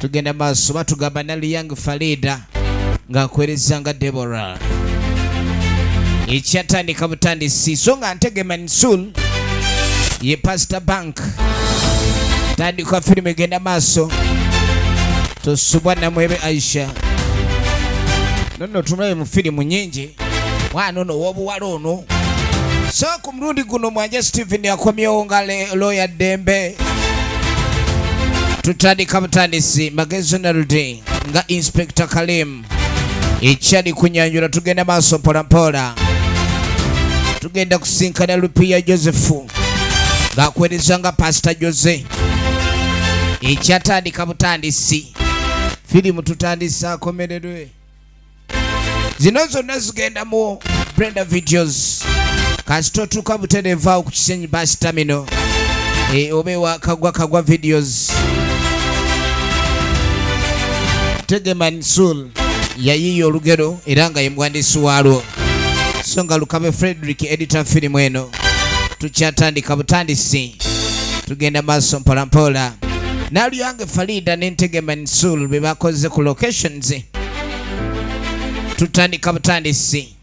tugenda maaso batugamba nali young farida ng'akuwereza nga debora ekyatandika butandisi so nga ntege mansul ye pastor bank tandika firimu egenda maaso tosubwa namwebe aisha nono tumulabe mu firimu nyingi mwana ono wobuwala ono so mulundi guno mwanje Steven akomyewo nga looya ddembe tutandika butandisi magezi naludi nga inspector Kalim ekyali kunyanjula tugenda maaso mpolampola tugenda kusinkana lupiya josefu ng'akuweereza nga pasita jose ekyatandika butandisi firimu tutandise akomererwe zino zonna zigenda mu brenda videos kasi totuuka butereevu awo ku kisenyi basi tamino e, oba ewa kagwa kagwa videos tegeman sul yayiiya olugero era nga ye muwandiisi waalwo so nga lukabe frederick editor firimu eno tukyatandika butandisi tugenda maaso mpolampola naluyange farida ne ntegeman sul be bakoze ku locations tutandika butandisi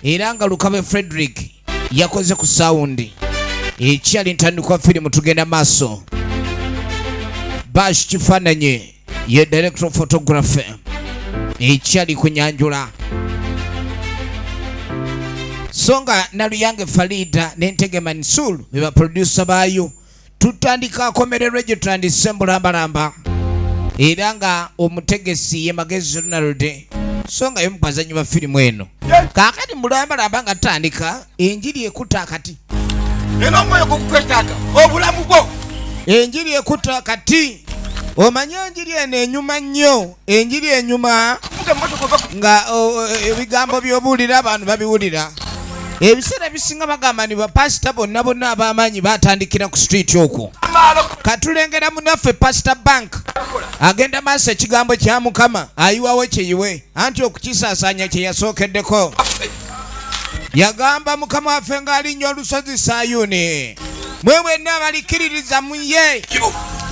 era nga lukabe frederick yakoze ku sawundi ekyali ntandikwa firimu tugenda maaso bash kifaananyi ye director photography ekyali kunyanjula so nga naluyange farida nentege mansul bebaprodusa baayo tutandika akomererwe gye tutandise mbulambalamba era nga omutegesi ye magezi ronald so nga yomu bazanyi ba firimu eno kakati mbulambalamba nga tutandika enjiri ekuta akati era omwoyo gukukwetaaga obulamu bwo enjiri ekuta akati omanye enjiri eno enyuma nnyo enjiri enyuma nga e, ebigambo byobuulira abantu babiwulira ebiseera ebisinga bagamba ni bapasita bonna bonna abamaanyi batandikira ku street okwo katulengera munaffe pasita bank agenda maaso ekigambo kya mukama ayiwawo kyeyiwe anti okukisaasaanya kyeyasookeddeko yagamba mukama waffe ng'alinnya olusozi sayuni mwe bwenna abalikkiririza mu ye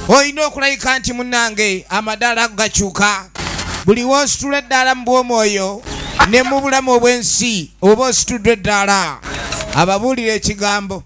olina okulabika nti munnange amadaala gakyuka buli w'ositula eddaala mu bw'omwoyo ne mu bulamu obw'ensi oba ositudde eddaala ababuulira ekigambo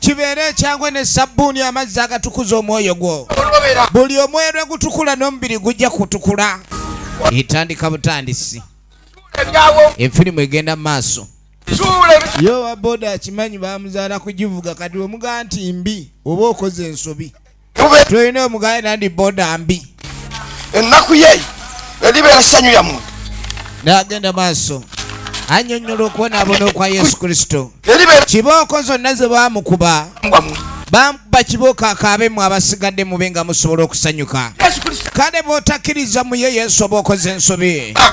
kibeere ekyangwe ne sabbuuni amazzi agatukuza omwoyo gwo buli omwerwe gutukula n'omubiri gujja kutukula etandika butandisi efirimu egenda mu maaso yo waboda akimanyi bamuzaala kugivuga kati wemuga nti mbi oba okoze ensobi tulina omugale nandi boda mbi ennaku ye eribeera ssanyu ya muntu nagenda maaso anyonyola okubonaabona okwa yesu kristo kibooko zonna ze bamukuba bamukuba kibooko akaabemu abasigadde mube nga musobola okusanyuka kale bwotakkiriza muye yesu oba okoze ensobi ah.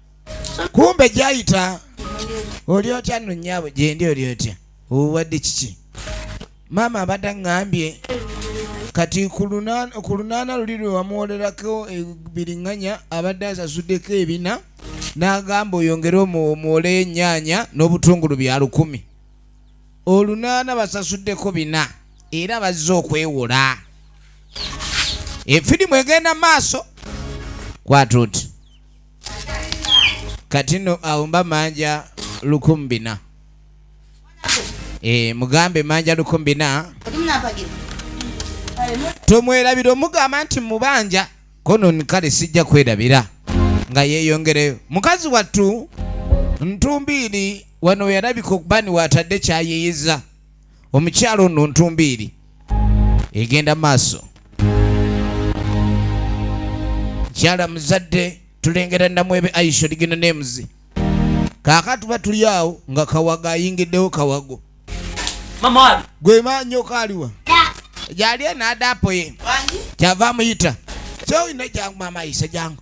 kumbe gyayita oli otya nno nnyabo gyendi oli otya obuwadde kiki maama abadde aŋŋambye kati ku lunaana luli lwe wamuwolerako ebiriŋŋanya abadde asasuddeko ebina n'agamba oyongere omuwoleyo ennyaanya n'obutungulu bya lukumi olunaana basasuddeko bina era bazze okwewola efirimu egenda maaso kwatuuti kati no awumba manja lukumbina e, mugambe manja lukumbina tomwerabira omugamba nti mubanja kono kale sijja kwerabira nga yeyongereyo mukazi wattu ntumbiiri wano yalabika okubani watadde kyayiyiza omukyala ono ntumbiiri egenda maaso mukyala muzadde tulengera namu ebe aisho ligino nemuzi kaka tuba tuli awo nga kawaga ayingiddewo kawago gwe manyoko aliwa yali enadapo ye kyava amuyita kyoyina jangu mama isa jangu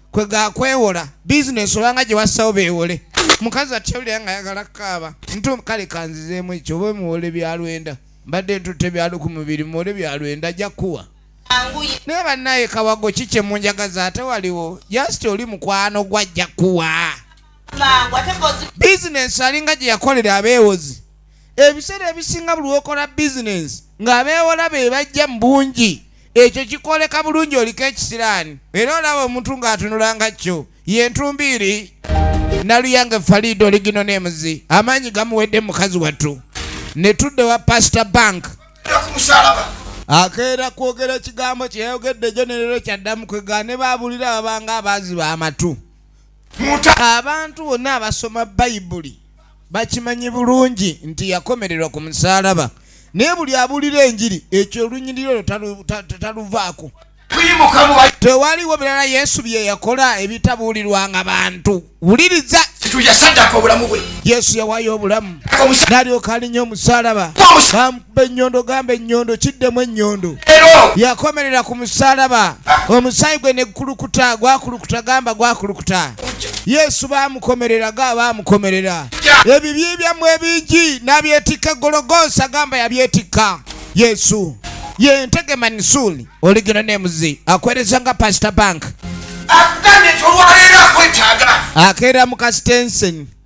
kwe gakwewola bizinesi obanga gye wassawo beewole mukazi atyawulira nga ayagala kukaaba ntu kale kanzizeemu ekyo oba muwole byalwenda mbadde ntutte byaluku mubiri muwole byalwenda ajja kuwa naye bannaye kawago ki kye munjagaza ate waliwo jasiti oli mukwano gwajja kuwa bizinesi alinga gye yakolera abeewozi ebiseera ebisinga buli wokola bizinesi ng'abeewola be bajja mu bungi ekyo kikwoleka bulungi oliko ekisiraani era olaba omuntu ng'atunula nga kyo ye ntumbiiri naluyange faliida oligino n'emuzi amaanyi gamuwedde mukazi wattu ne tudde wa pasita bank akeera kwogera ekigambo kyeyayogedde jo nerero kyaddamu kwegaane baabulira babanga abaaziba amatu abantu bonna abasoma bayibuli bakimanyi bulungi nti yakomererwa ku musalaba naye buli abulira enjiri ekyo olunyiriro lwo taluvaako tewaliwo birala yesu byeyakola ebitabuulirwanga bantu wuliriza yesu yawayo obulamu nalyoka alinya omusalaba kubba ennyondo gamba ennyondo kiddemu ennyondo yakomerera ku musalaba omusaayi gwe negukulukuta gwakulukuta gamba gwakulukuta yesu bamukomerera ga bamukomerera ebibyi byammwe ebingi nabyetikka gologosa gamba yabyetikka yesu ye ntege manisuuli oligino nemuzi akwereza nga pasita bank akeera mu kasitenseni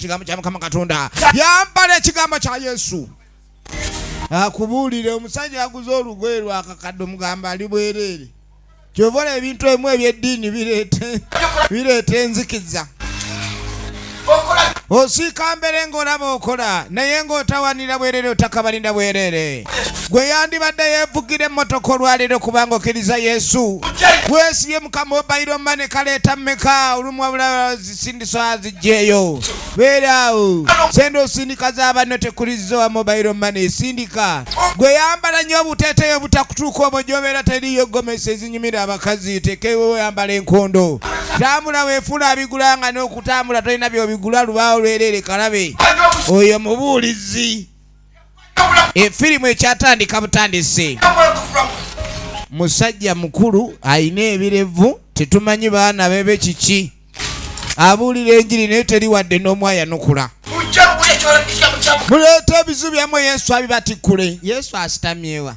ekigambo kya mukama katonda yambala ekigambo kya yesu akubuulire omusajja aguze olugoye lwakakadde omugamba ali bwereere kyova olaba ebintu emu ebyeddiini bireeta enzikiza osiika mbere ng'olaba okola naye ng'otawanira bwerere otakabalinda bwerere gwe yandibadde yeevugira emmotoka olwaleero kubanga okkiriza yesu weesibye mukama obayiro mane kaleeta mmeka olumwabulazi sindisa zijjeeyo beera awo sente osindika za banno tekuliza wa mobile money sindika gwe yambala nnyo obuteeteeyo obutakutuuka omwo gyobeera teriyo gomesa ezinyumira abakazi tekewo yambala enkondo tambula wefuula abigula nga n'okutambula tolina byobigula lubaawo lwereere kalabe oyo mubuulizi efirimu ekyatandika butandisi musajja mukulu alina ebirevu tetumanyi baana bebe kiki abuulira enjiri naye teri wadde n'omu ayanukula muleeta ebizu byammwe yesu abibatikkule yesu asitamyewa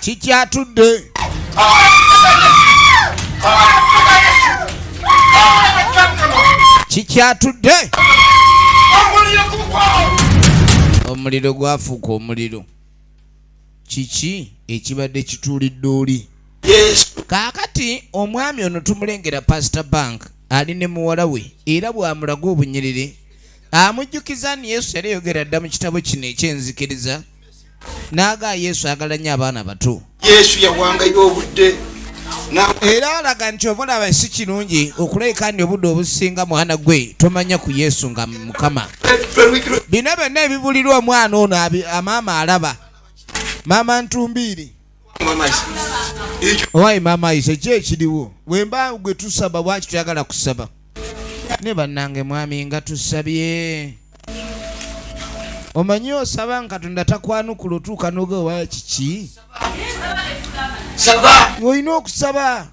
kikyatudde kikyatudde omuliro gwafuuka omuliro kiki ekibadde kituulidde oli kaakati omwami ono tumulengera pasita bank ali ne muwala we era bw'amulaga obunyiriri amujjukiza ni yesu yali yogera dda mu kitabo kino ekyenzikiriza naaga yesu agala nnyo abaana bato yesu yawangayo obudde era alaga nti obulaba si kirungi okulabika nti obudde obusinga mwana gwe tomanya ku yesu nga mukama bino byonna ebibulirwa omwana ono amaama alaba maama ntumbiiri owaye maama ise ki ekiriwo wemba gwe tusaba bwaki tuyagala kusaba ne bannange mwami nga tusabye omanyi osaba nga katonda takwanukula otuuka noga owaye kiki olina okusaba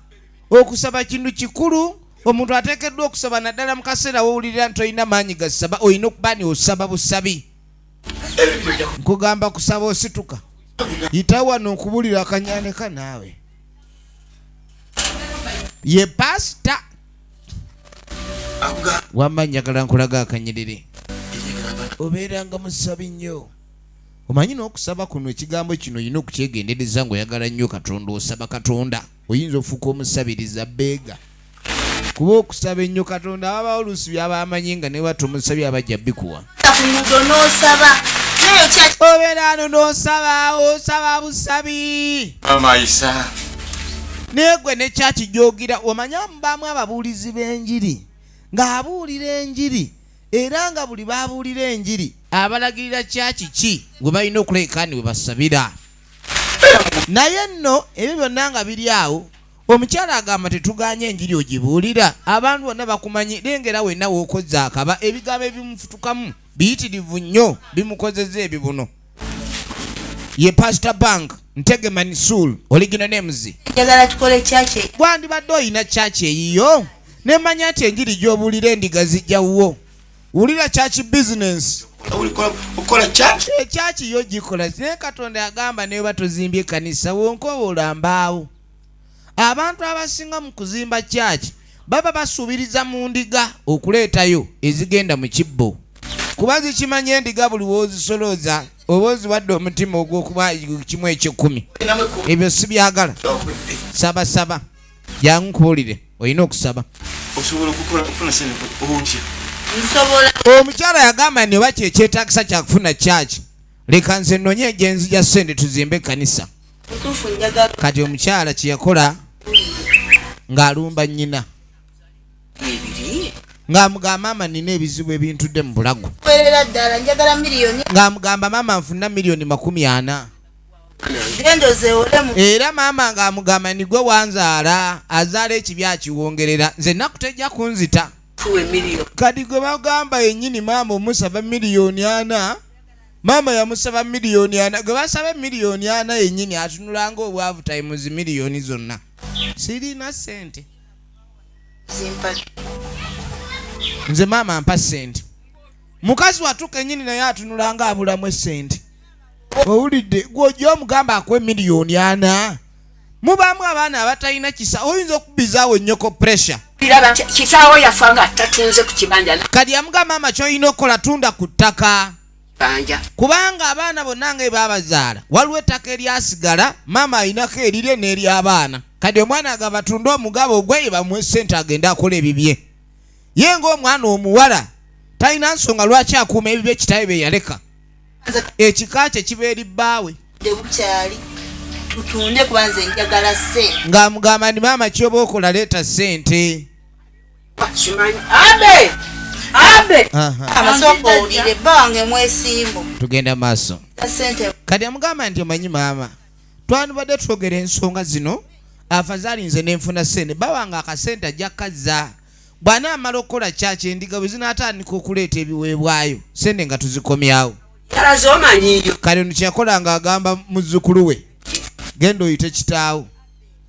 okusaba kintu kikulu omuntu ateekeddwa okusaba naddala mu kaseera wowulirira nti olina maanyi gasaba olina okuba ni osaba busabi nkugamba kusaba osituka yita wano nkubulira akanyaneka naawe ye pasita wamma njagala nkulaga akanyiriri obeeranga musabi nnyo omanyi n'okusaba kuno ekigambo kino olina okukyegendereza ng'oyagala nnyo katonda osaba katonda oyinza ofuuka omusabiriza beega kuba okusaba ennyo katonda aba oluusi byaba amanyi nga newa tomusabye abajja bikuwa obeera ano nosaba osaba busabi naye gwe nekyakijoogira omanya mubaamu ababuulizi b'enjiri ng'abuulira enjiri era nga buli babuulira enjiri abalagirira kyakiki gwe balina okulekaani we basabira naye nno ebyo byonna nga biri awo omukyala agamba tetuganye enjiri ogibuulira abantu bonna bakumanyi lengera wenna wokozza akaba ebigambo ebimufutukamu biyitirivu nnyo bimukozeza ebibuno ye pastor bank ntegeman sul oligino nemuzi gwandibadde olina kyaki eyiyo nemanya nti enjiri gyobuulira endiga zijjawuwo wulira kyaki bizinensi ekyaki eh, yo gikola naye katonda agamba naye oba tozimbye kanisa wonka oba olambaawo abantu abasinga mu kuzimba kyaki baba basuubiriza mu ndiga okuleetayo ezigenda mu kibbo kuba zikimanyi endiga buli wozisolooza oba oziwadde omutima ogwokuba kimu ekyekumi ebyo sibyagala sabasaba jangu nkubulire olina okusaba osobola okukola okufuna sente otya nsobola omukyala yagamba nti oba kyekyetagisa kyakufuna kyaki leka nze nonye gyenzija sente tuzimbe ekkanisa kati omukyala kyeyakola ng'alumba nnyina ng'amugamba maama nina ebizibu ebintudde mu bulago ng'amugamba maama nfuna miliyoni makumi ana era maama ng'amugamba nigwe wanzaala azaala ekibi akiwongerera nze naku tejja kunzita kati gwe bagamba yennyini maama omusaba miliyoni ana maama yamusaba miliyoni ana gwe basaba miliyoni ana yennyini atunulanga obwavu tayimuzi miliyoni zonna sirina sente nze maama mpa sente mukazi watuka enyini naye atunulanga abulamu esente owulidde gwojja omugamba akuwa emiliyoni ana mubaamu abaana abatalina kisa oyinza okubizaawo ennyoko pressure kitaawo yafa nga tatunze ku kibanja kati yamuga maama kyolina okukola tunda ku ttaka kubanga abaana bonna nga ebabazaala waliwo ettaka eryasigala maama alinako erire n'eryabaana kati omwana nga batunde omugabo ogweye bamuwe sente agende akola ebibye ye ngaomwana omuwala talina nsonga lwaki akuuma ebibye kitawe beyaleka ekika kye kiba eri bbaawe tutunde kuba nze njagala sente ng'amugamba ndi maama kyoba okola leeta sente tugenda maaso kati amugamba nti omanyi maama twandibadde twogera ensonga zino afazaali nze nenfuna sente bawange akasente ajja kazza bw'anaamala okukola kyaki endiga bwe zinaatandika okuleeta ebiweebwayo sente nga tuzikomyawo kale ono kyeyakola nga agamba muzzukulu we genda oyite kitaawo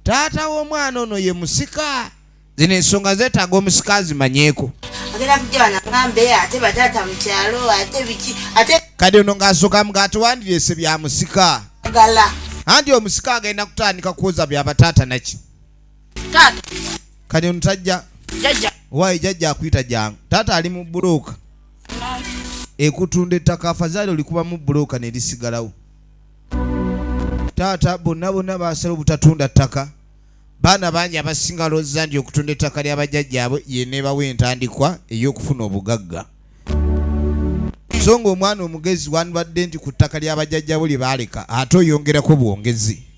taata w'omwana ono ye musika zino ensonga zetaaga omusika azimanyeeko kadi ono ng'asooka mga atiwandireese bya musika anti omusika agenda kutandika kwoza bya bataata naki taata kati ono tajja jajja waayi jajja akuyita jangu taata ali mu bulooka ekutunda ettaka afazaali olikubamu bulooka ne lisigalawo taata bonna bonna basala obutatunda ttaka baana bangi abasinga looza nti okutunda ettaka lya bajjajjaabwe yeneebawo entandikwa ey'okufuna obugagga so ng'omwana omugezi wandibadde nti ku ttaka lya bajjajjaabwe lye baaleka ate oyongerako bwongezi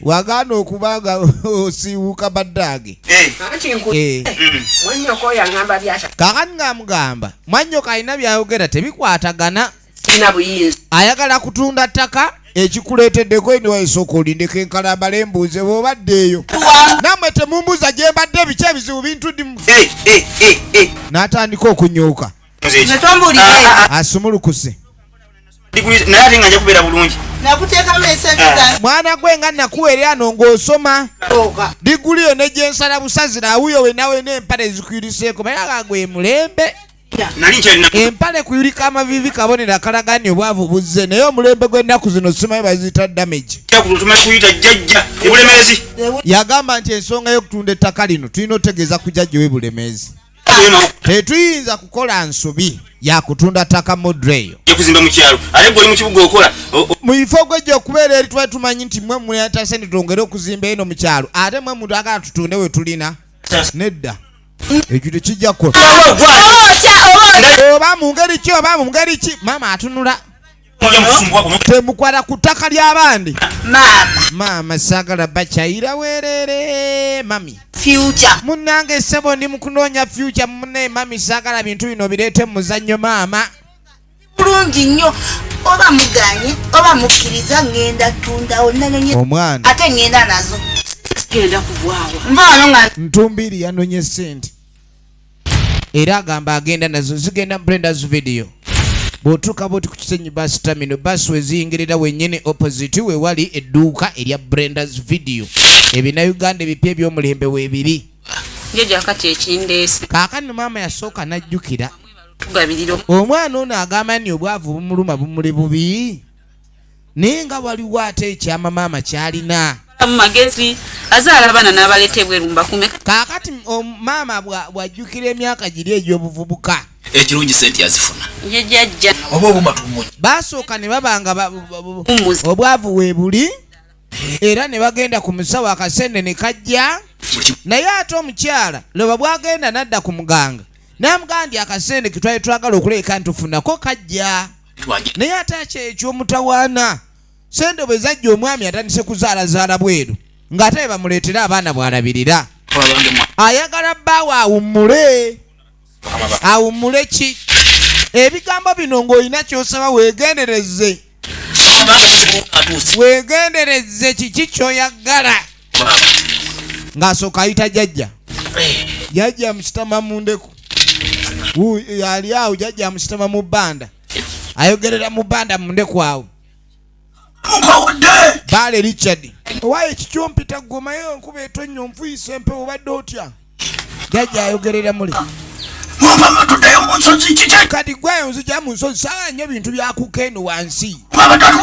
wagaana okuba nga osiiwuka baddaage eh. eh. kakati ngaamugamba mwannyoko alina byayogera tebikwatagana ayagala kutunda ttaka ekikuleeteddeko eniwaisooka olindeko enkalambala embuuze bwobaddeeyo namwe temumbuuza gye mbadde biki ebizibu bintu dimu eh, n'atandika okunyuuka asumulukuse naye ate nga nja kubeera bulungi ah. mwana gwe nga nakuwerera no ng'osoma diguli yo ne gyensala busazi nawuyo wenawe n'empale zikwiriseeko naye nga gwe mulembe empale kuyulika amavivi kabonero akalagani obwavu buzze naye omulembe gw'ennaku zino simaye baziyita damage yagamba nti ensonga y'okutunda ettaka lino tulina otegeeza ku jajja we bulemeezi tetuyinza kukola nsobi yakutunda ttaka modre eyo mu bifo gwejja okubeera eri twali tumanyi nti mwe muleta sente twongere okuzimba eno mu kyalo ate mwe muntu agala tutunde we tulina nedda ekyo tekijja kukola oba mu ngeri ki oba mu ngeri ki maama atunula temukwala ku ttaka ly'abandi maama sagala bakyayira werere mami munange sebo ndi mukunoonya fyuca mune mami sagala bintu bino bireete muzannyo maama bulungi nnyo oba muganye oba mukkiriza ŋenda tundawo nanonye omwana ate ŋenda nazo genda kugwawa nvaano nga ntumbiri yanonye sente era agamba agenda nazo zigenda mu brendas video bw'otuuka bwoti ku kisenyi bus terminal bus weziyingirira wenyini opposite we wali edduuka erya brendas video ebina uganda ebipya eby'omulembe weebiri kaakano maama yasooka n'ajjukira omwana ono agamba ni obwavu bumuluma bumuli bubi naye nga waliwo ate ekyama maama kyalina mumagezi azaala abaana n'abaleeta ebweru mbakume kaakati maama bwajjukira emyaka giri egy'obuvubuka ekirungi sente azifuna yejajja oba obuma tumuny basooka ne babanga obwavu weebuli era ne bagenda ku musawo akasente ne kajja naye ate omukyala loba bwagenda nadda ku muganga namugamba nti akasente ketwali twagala okuleeka ntufunako kajja naye ate akyekyo omutawaana sente bwe zajja omwami atandise kuzaalazaala bweru ng'ate be bamuleetera abaana bw'alabirira ayagala bbaawe awummule awummule ki ebigambo bino ng'olina ky'osaba weegendereze weegendereze kiki ky'oyagala ng'asooka ayita jajja jajja mukitama mu ndeku yali awo jajja mukitama mu bbanda ayogerera mu bbanda mu ndeku awo baale richard owaye kikyompita gwomayo nkuba etonnya onfuyisa empewo obadde otya jajja ayogerera muli mukama tuddeyo mu nsozi kiki kati gweyo nzija mu nsozi sawa nnyo bintu byakuka eno wansi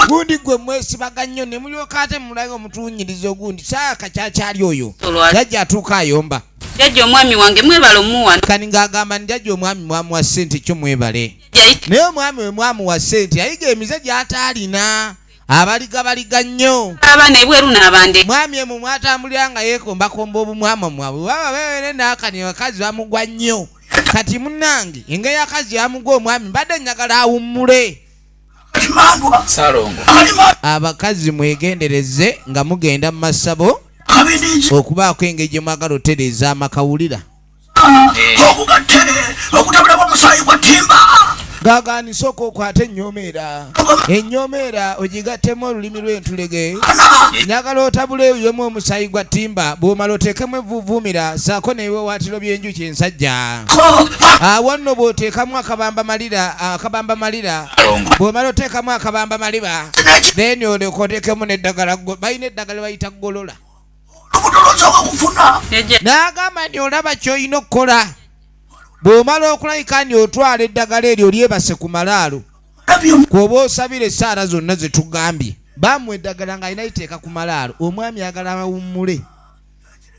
gundi gwe mwesibaga nnyo ne mulyoka ate mulaga omutuunyiriza ogundi sawa kakyakyali oyo jajja atuuka ayomba jajja omwami wange mwebale omuwa kani ng'agamba ni jajja omwami mwamuwa ssente kyo mwebale naye omwami we mwamuwa ssente yayiga emize gy'ataalina abaliga baliga nnyo abaana ebweru n'abande mwami emu mwatambulira nga yeekombakomba obumwama mwabwe baba bebere naakani abakazi bamugwa nnyo kati munnange engeri akazi yamugwa omwami mbadde njagala awummule salongo abakazi mwegendereze nga mugenda mu masabo okubaako engeri gye mwagala otereeza amakawulira gagani sooka okwate enyomeera enyomeera ogigattemu olulimi lw'entulege nyagala otabula eyemu omusaayi gwa ttimba bw'omala oteekemu evvuuvuumira saako n'ebiwawaatiro by'enjuki ensajja awo nno bw'oteekamu akabamba malira akabamba malira bw'omala oteekamu akabamba maliba then olyoka oteekemu n'eddagala balina eddagala bayita golola olubuto lwosooka kufuna n'agamba nti olaba ky'olina okukola bw'omala okulabika nti otwala eddagala eryo lyebase ku malaalo kwoba osabira esaala zonna ze tugambye bamwe eddagala nga alina liteeka ku malaalo omwami ayagala awummule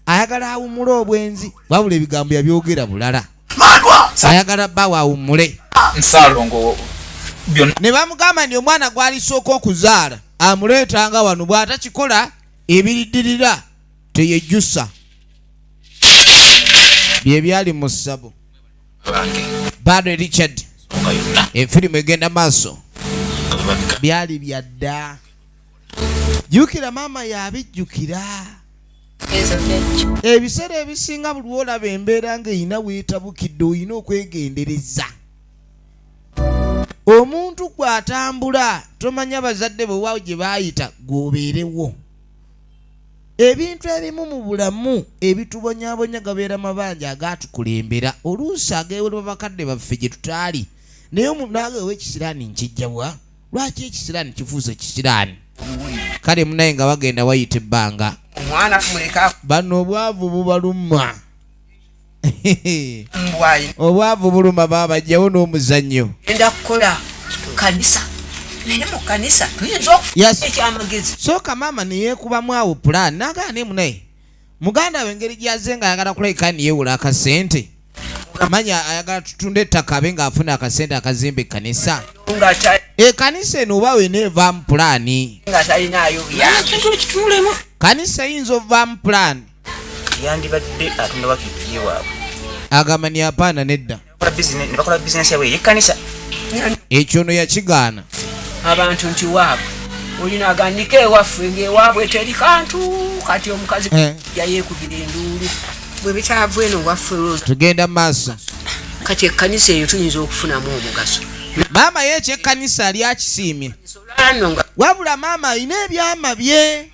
ayagala awummule obwenzi wabula ebigambo yabyogera bulala ayagala bawe awummule ne bamugamba nti omwana gwalisooka okuzaala amuleetanga wano bw'atakikola ebiridirira teyejusa byebyali mu ssabo bado richard efirimu egenda maaso byali byadda jukira maama yabijjukira ebiseera ebisinga buli olaba embeera nga erina weetabukidde olina okwegendereza omuntu gw'atambula tomanya bazadde bwe waawo gye baayita gw'obeerewo ebintu ebimu mu bulamu ebitubonyabonya gabeera mabanja agaatukulembera oluusi ageewolwa bakadde baffe gye tutaali naye omunaawe owekisiraani nkijjabwa lwaki ekisiraani kifuuse kisiraani kale munaye nga bagenda wayita ebbanga bano obwavu bubaluma obwavu buluma baaba jjawo n'omuzannyo enda kukola kanisa naye mu kanisa tuyinza okufa ekyamagezi sooka maama neyekubamu awo pulaani nagaana emu naye muganda we engeri gyaze nga ayagala kulabika niyewula akasente manya ayagala tutunda ettaka abe ng'afuna akasente akazimba ekkanisa ekanisa eno oba wena evaamu pulaani kanisa eyinza ovaamu pulaani yandibadde atunda wakiti ye waabwe agamba ni apaana nedda ne bakola bizinesi yabwe eyekkanisa ekyo no yakigaana abantu nti waabwe olina agandika ewaffe ngaewaabwe teri kantu kati omukazi eh. yayekubira enduulu bwe bitaavu eno waffe tugenda mu maaso kati ekkanisa eyo tuyinza okufunamu omugaso maama ye ekyekkanisa lyakisiimye wabula maama alina ebyama bye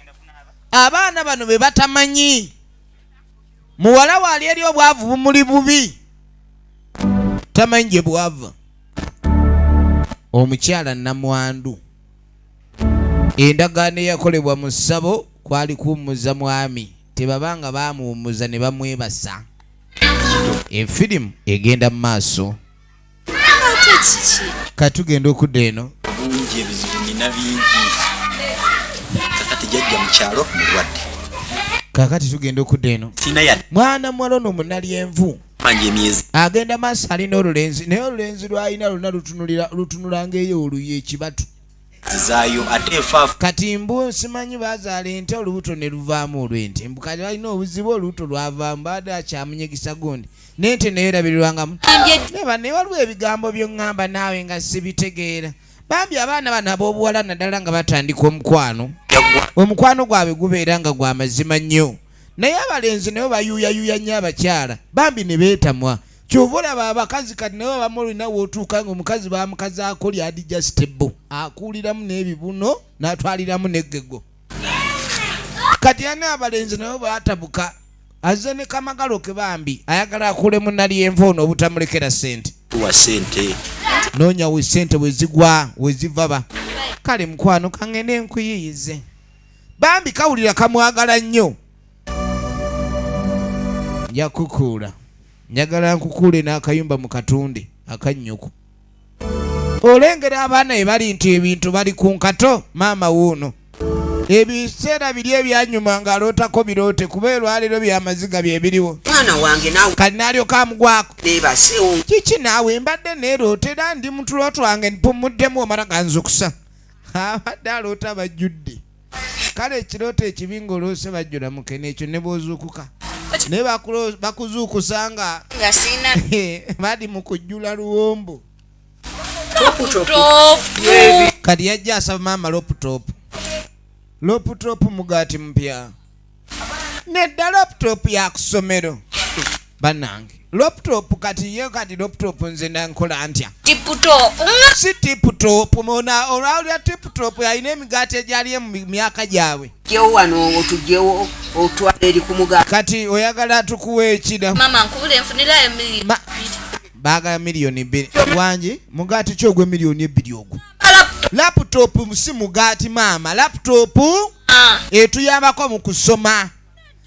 abaana bano be batamanyi muwala waali eri obwavu bumuli bubi tamanyi gye bwava omukyala namwandu endagaano eyakolebwa mu ssabo kwali kuwummuza mwami tebaba nga baamuwummuza ne bamwebasa efirimu egenda mu maaso katugenda okudda eno bingi ebizibu nina bingi kakati jajja mukyalo mulwadde kakati tugenda okudda eno mwana muwala ono munalyenvu agenda maaso alina olulenzi naye olulenzi lwalina luna lutunulanga eyo oluyo ekibatu kati mbu nsimanyi bazaala ente olubuto ne luvaamu olw'ente mbu kati balina obuzibu olubuto lwavaamu baade akyamunyegisa gundi n'ente naye erabirirwangamu naye waliwo ebigambo byoŋŋamba naawe nga sibitegeera bambi abaana bano ab'obuwala naddala nga batandika omukwano omukwano gwabwe gubeera nga gwa mazima nnyo naye abalenzi nabo bayuuyayuuya nnyo abakyala bambi ne beetamwa kyova olaba abakazi kati nawe abamu olina wotuuka nga omukazi bamukazaako lyadi justebo akuuliramu n'ebibuno natwaliramu negego kati ani abalenzi nawe batabuka azze ne kamagalo ke bambi ayagala akulemu nalyenva ono obutamulekera sente nonya we sente wezigwa wezivaba kale mukwano kangende nkuyiyize bambi kawulira kamwagala nnyo njakukuula njagala nkukuule n'akayumba mu katunde akannyuku olengera abaana be bali nti ebintu bali ku nkato maama wuuno ebiseera biri ebyanyuma ng'alootako biroote kuba elwaleero byamaziga bye biriwo mwana wange nawe kati naalyoka amugwako beebasewo kiki naawe mbadde neeroota era ndi mutulo twange mpummuddemu omala ganzukusa abadde aloota bajjudde kale ekirooto ekibi ng'oloose bajjula mukene ekyo ne bw'ozuukuka naye bakuzuukusa nga bali mu kujjula luwombo kati yajja asaba maama loputopu loputopu mugaati mupya nedda laptop ya kusomero banange laptop kati ye kati laptop nze nankola ntya si tiptop mona olwalya tiptop alina emigaati egyaliye mu myaka gyabwe jewo wano otujewo otwala eri kumuga kati oyagala tukuwa ekida mama nkubule nfunirayo emiliyoni bagala miliyoni bbiri wangi mugaati ki ogwe miliyoni ebbiri ogwo laputopu si mugaati maama laputopu ah. etuyambako mu kusoma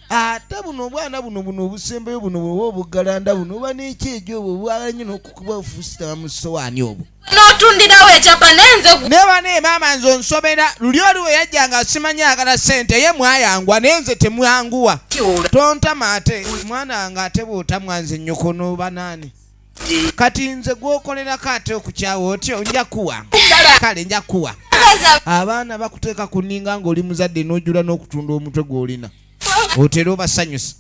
ate buno obwana buno buno obusembeyo buno bwoba obugalanda buno oba nekyejo obwo obwala nyo nokukuba ofusitama mu sowaani obwo n'otundirawo ekyapa nenze naye bane maama nze onsobera luli oli we yajja nga simanyi agala sente ye mwayangwa naye nze temwanguwa tontama ate mwana nga ate bwotamwa nze nyokonu banaani kati nze gwokolerako ate okukyawa otyo nja kuwa kale nja kuwa abaana bakuteeka ku ninga ng'oli muzadde n'ojula n'okutunda omutwe gw'olina otera obasanyusa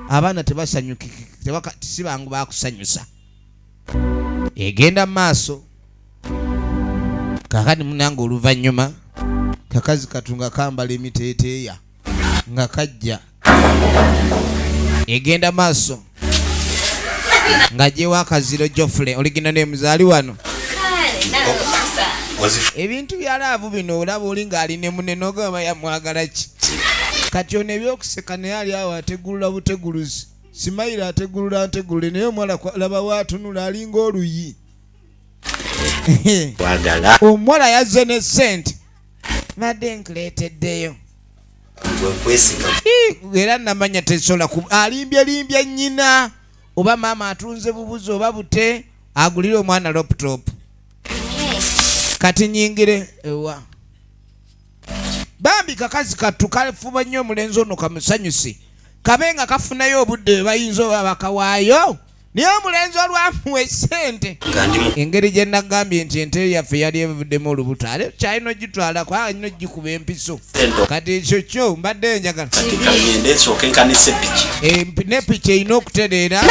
abaana tebasanyukiki sibangu bakusanyusa egenda mu maaso kakati munange oluvannyuma kakazi katu nga kambala emiteeteeya nga kajja egenda maaso nga gyewo akaziro jofule oligina ne muzaali wano ebintu bya laavu bino olaba oli ng'ali ne mune nogamba yamwagala ki kati ono ebyokuseka naye ali awo ategulula buteguluzi simayira ategulula ntegulule naye omuwala laba waatunula alinga oluyi omuwala yazze ne sente nadde nkuleeteddeyo era namanya tesobola ku alimbye limbye nyina oba maama atunze bubuzi oba bute agulire omwana laptop kati nyingire ewa bambi kakazi kattu kafuba nnyo omulenzi ono kamusanyuse kabe nga kafunayo obudde bwe bayinza oba bakawaayo naye omulenzi olwamuwa esente engeri gye nagambye nti ente yaffe yali evuddemu olubuto ale kyalina ogitwala kwa alina ogikuba empiso kati ekyo kyo mbadde njagala eh, ne piki erina okutereera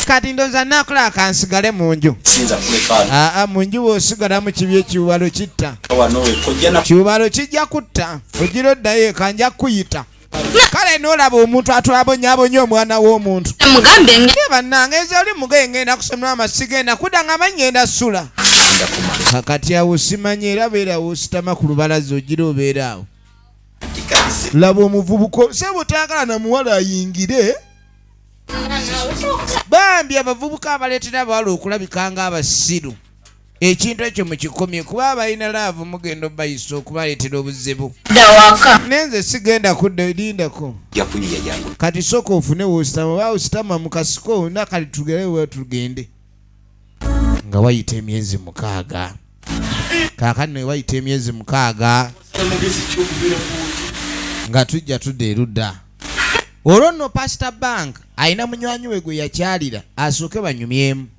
kati ndoza nakola kansigale mu nju aa mu nju wosigalamu kibi ekiwalo kitta kibalo kijja kutta ogira oddayo eka nja kukuyita kale nolaba omuntu atwabonyabonya omwana w'omuntu bannange eza oli mugaye ngenda kusomera amasi genda kuda nga manyenda sula kakati awo simanya era beera wositama ku lubalaza ogira obeera awo laba omuvubuka osaba otayagala na muwala ayingire bambi abavubuka abaleetera abawala okulabika nga abasiru ekintu ekyo mukikomye kuba abalina laavu mugenda obayisa okubaleetera obuzibu nenze sigenda kudda lindako kati soka ofune wositama oba ositama mukasiko nakati tugere we tugende nga wayita emyezi mukaaga kaakati naye wayita emyezi mukaaga nga tujja tudda erudda olwo nno pasita bank alina munywanyi we gwe yakyalira asooke banyumyemu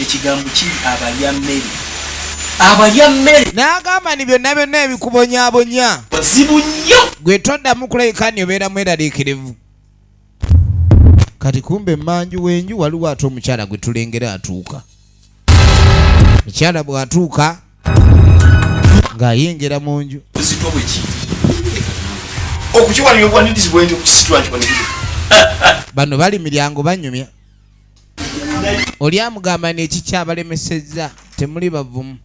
ekigambo kiri abalya mmere abalya mmere n'agamba ni byonna byonna ebikubonyabonya bazibu nnyo gwe toddamu kulabika ni obeera mweraliikirivu kati kumbe mmanju w'enju waliwo ate omukyala gwe tulengera atuuka mukyala bw'atuuka ng'ayingira mu nju buzitwa bwe kiri okukiwalira obwanirizi bwenti okukisitula nti bano bali miryango banyumya oli amugamba neki kyabalemesezza temuli bavumu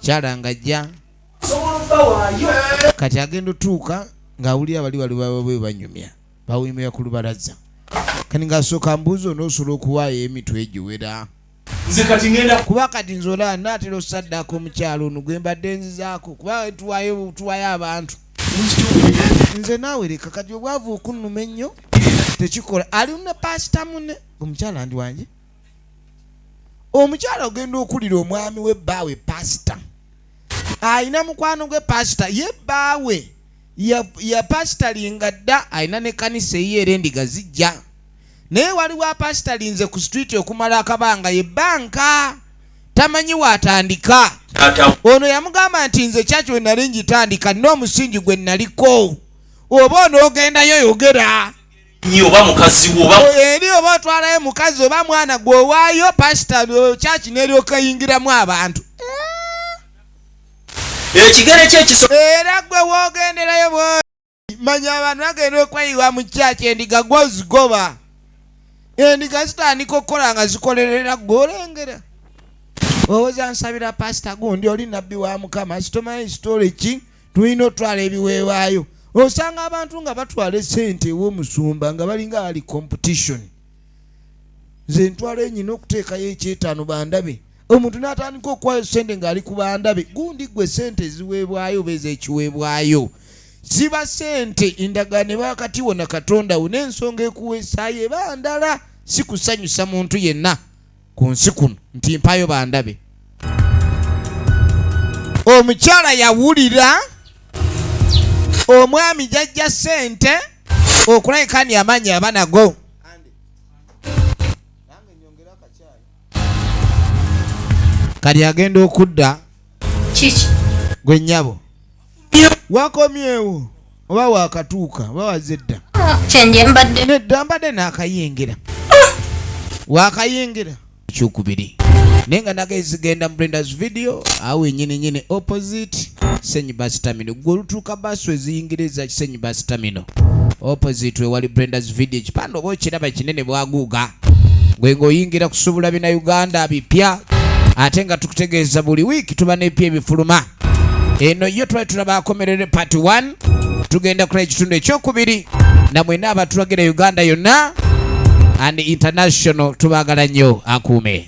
kyala nga ajja kati agenda otuuka ng'awulira bali bali bababwe banyumya bawumira ku lubalaza kani ng'asooka mbuuza onoosula okuwaayo emitwe egiwera nze kati ngenda kuba kati nze olaba naatera osaddaaka omukyalo ono gwe mbadde nzizaako kuba tuwayo tuwayo abantu nze naawe leka kati obwavu okunnuma ennyo tekikola ali ne paasita mune omukyala ndi wange omukyala ogenda okulira omwami we bbaawe paasita alina mukwano gwe paasita ye bbaawe ya paasita linga dda alina ne kanisa eyiyo era endiga zijja naye waliwo apasitalinze ku situiti okumala akabanga ye banka tamanyi waatandika ono yamugamba nti nze kyaki we nali ngitandika nina omusingi gwe naliko oba onoogendayo yogera oba mukazi eri oba otwalayo mukazi oba mwana gwe owaayo pasita kyaki neryokayingiramu abantu ekigere kyekiso era gwe wogenderayo manya abantu bagenda okweyiwa mu kyaki endiga gwozigoba endiga zitandika okukola nga zikolerera gwe olengera owoza nsabira pasita gundi oli nabbi wa mukama sitomanyi sitole ki tulina otwala ebiweebwayo osanga abantu nga batwala esente ewomusumba nga balinga ali competition nze ntwala enyina okuteekayo ekyetaano bandabe omuntu n'atandika okuwayo sente ng'ali ku bandabe gundi gwe sente eziweebwayo oba ez'ekiweebwayo ziba sente endagaano eba wakati wona katonda wo n'ensonga ekuweesaayo eba ndala si kusanyusa muntu yenna ku nsi kuno nti mpayo bandabe omukyala yawulira omwami jajja sente okulabika ni amaanyi abanago kati agenda okudda kiki gwe nyabo wakomyewo oba wakatuuka oba waze dda ah, kyenjembadde nedda mbadde nakayingira ah. wakayingira ekyokubiri naye nga naga ezigenda mbrendas video awo enyini nyini opposite senyi basitamino gwe olutuuka basu eziyingira eza kisenyi basitamino opposite wewali brendas video ekipande oba okiraba kinene bwaguuga gwe ng'oyingira kusubula bina uganda bipya ate nga tukutegeeza buli wiiki tuba n'epya ebifuluma eno yo twali tulaba akomerere part 1 tugenda kula ekitundu ekyokubiri namwena abatulagira uganda yonna and international tubagala nnyo akuume